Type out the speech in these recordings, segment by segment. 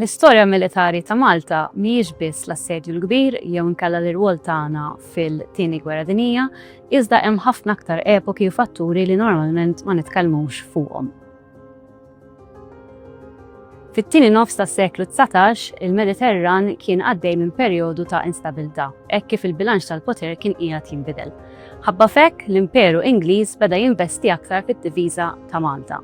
L-istorja militari ta' Malta mhijiex biss l-Assedju l-Kbir jew inkella l-irwol tagħna fil-Tieni Gwerra Dinjija, iżda hemm ħafna aktar epoki u fatturi li normalment ma nitkellmux fuqhom. Fit-tieni nofs tas-seklu dsatax, il-Mediterran kien għaddej minn perjodu ta' instabilità hekk kif il-bilanċ tal-poter kien qiegħed jinbidel. Ħabba f'hekk, l-Imperu Ingliż beda jinvesti aktar fid-difiża ta' Malta.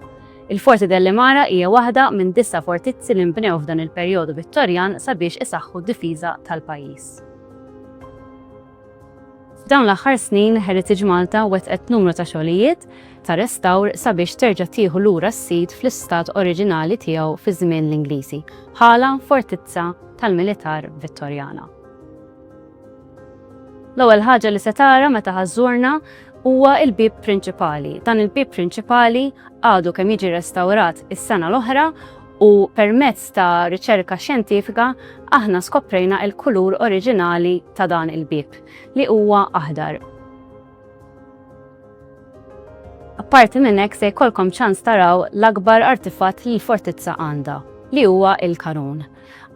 Il-Forti Delle Mara hija waħda minn disa' fortizzi li nbnew f'dan il-perjodu Vittorjan sabiex isaħħu d-difiża tal-pajjiż. F'dawn l-aħħar snin Heritage Malta wettqet numru ta' xogħlijiet ta' restawr sabiex terġa' tieħu lura s-sit fl-istat oriġinali tiegħu fi żmien l-Ingliżi, bħala fortizza tal-militar Vittorjana. L-ewwel ħaġa li se tara meta ħa żżurna huwa l-bieb prinċipali. Dan il-bieb prinċipali għadu kemm jiġi restawrat is-sena l-oħra u permezz ta' riċerka xjentifika aħna skoprejna l-kulur oriġinali ta' dan il-bieb, li huwa aħdar. Apparti minn hekk se jkollkom ċans taraw l-akbar artifatt li l-fortizza għandha, li huwa l-kanun.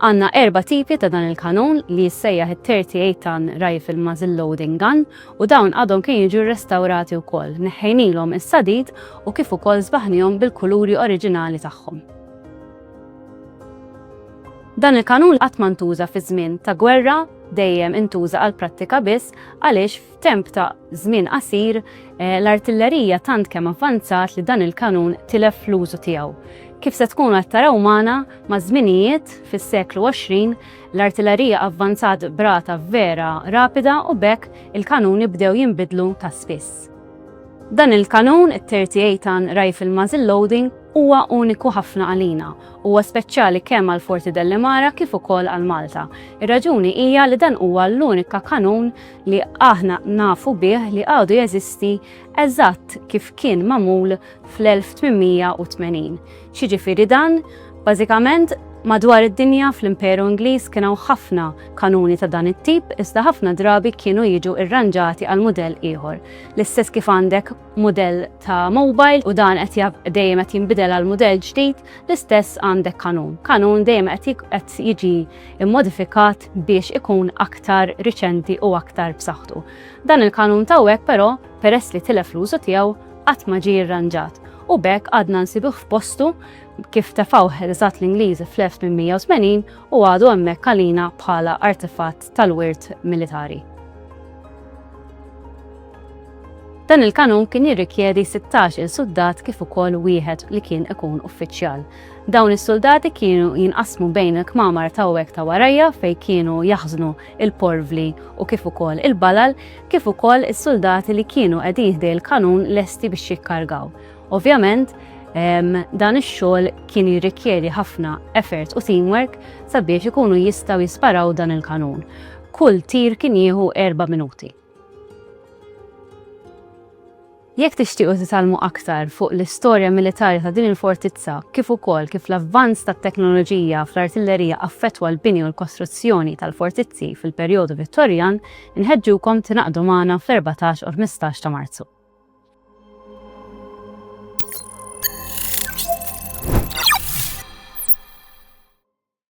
Għandna erba' tipi ta' dan il-kanun li jissejjaħ it-38 ton rifle muzzle loading gun u dawn għadhom kemm jiġu rrestawrati wkoll, neħħejnilhom is-sadid u kif ukoll sbaħnihom bil-kuluri oriġinali tagħhom. Dan il-kanun qatt ma ntuża fi żmien ta' gwerra, dejjem intuża għal prattika biss għaliex f'temp ta' żmien qasir eh, l-artillerija tant kemm avvanzat li dan il-kanun tilef l-użu tiegħu. Kif se tkunu qed taraw magħna maż-żminijiet fis-seklu 20 L-artillerija avvanzat b'rata vera rapida u b'hekk il-kanuni bdew jinbidlu ta' spiss. Dan il-kanun, it-38 ton rifle muzzle loading, huwa uniku ħafna għalina. Huwa speċjali kemm għal Forti Dellimara kif ukoll għal Malta. Ir-raġuni hija li dan huwa l-unika kanun li aħna nafu bih li għadu jeżisti eżatt kif kien magħmul fl-1880. X'jiġifieri dan? Bażikament, madwar id-dinja fl-Imperu Ingliż kien hawn ħafna kanuni ta' dan it-tip iżda ħafna drabi kienu jiġu rranġati għal mudell ieħor. L-istess kif għandek mudell ta' mobile u dan qed dejjem qed jinbidel għal mudell ġdid, l-istess għandek kanun. Kanun dejjem qed jiġi mmodifikat biex ikun aktar riċenti u aktar b'saħħtu. Dan il-kanun ta' hawnhekk però peress li tilef l-użu tiegħu, qatt ma ġie irranġat u b'hekk għadna nsibuh f'postu kif tefgħuh eżatt l-Ingliżi fl-1880 u għadu hemmhekk għalina bħala artefatt tal-wirt militari. Dan il-kanun kien jirrikjedi 16 il suldat kif ukoll wieħed li kien ikun uffiċjal. Dawn is-suldati kienu jinqasmu bejn il-kmamar tawwek ta' warajja fejn kienu jaħżnu il-porvli u kif ukoll il-balal, kif ukoll is-suldati li kienu qegħdin ħdej il-kanun lesti biex jikkargaw. Ovvjament, dan ix-xogħol kien jirrikjedi ħafna effort u teamwork sabiex ikunu jistgħu jisparaw dan il-kanun. Kull tir kien jieħu erba' minuti. Jekk tixtiequ titgħallmu aktar fuq l-istorja militari ta' din il-fortizza kif ukoll kif l-avvanz tat-teknoloġija fl-artillerija affettwa l-bini u l-kostruzzjoni tal-fortizzi fil-perjodu Vittorjan, inħeġġukom tingħaqdu magħna fl-erbatax u l-ħmistax ta' Marzu.